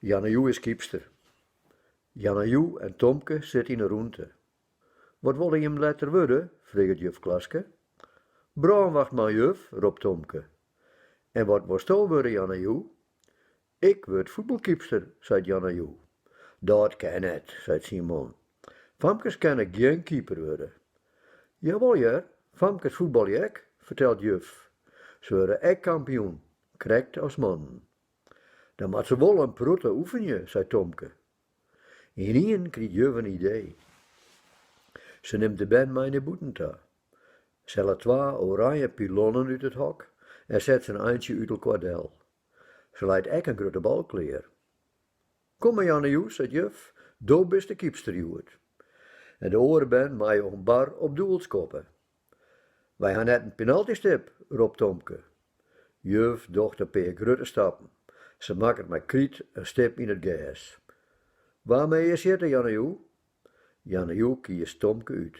Yana Yu is keepster. Yana Yu en Tomke sitte yn 'e rûnte. Wat wolle jim letter wurde? freget juf Klaske. Brânwachtman, juf, ropt Tomke. En wat wolsto wurde, Yana Yu? Ik wurd fuotbalkeepster, seit Yana Yu. Dat kin net, seit Simon. Famkes kinne gjin keeper wurde. Jawol hear, famkes fuotbalje ek, fertelt juf. Se wurde ek kampioen, krekt as mannen. Dan moat se wol in protte oefenje, seit Tomke. Ynienen krijt juf in idee. Se nimt de bern mei nei bûten ta. Se hellet twa oranje pilonnen út it hok en set se in eintsje út elkoar del. Se leit ek in grutte bal klear. Kom mar Yana Yu, seit juf, do bist de keepster hjoed. En de oare bern meie om bar op doel skoppe. Wy ha net in penaltystip, ropt Tomke. Juf docht in pear grutte stappen. Se makket mei kryt in stip yn it gers. Wa mei earst sjitte, Yana Yu? Yana Yu kiest Tomke út.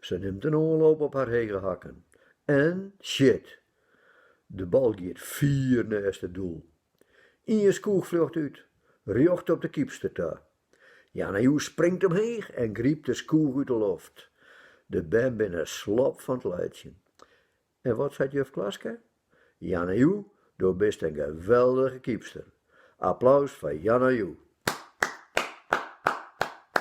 Se nimt in oanloop op har hege hakken en sjit! De bal giet fier nêst it doel. Ien skoech fljocht út, rjocht op de keepster ta. Yana Yu springt omheech en grypt de skoech út de loft. De bern binne slop fan it laitsjen. En wat seit juf Klaske? Yana Yu, do bist in geweldige keepster! Applaus foar Yana Yu.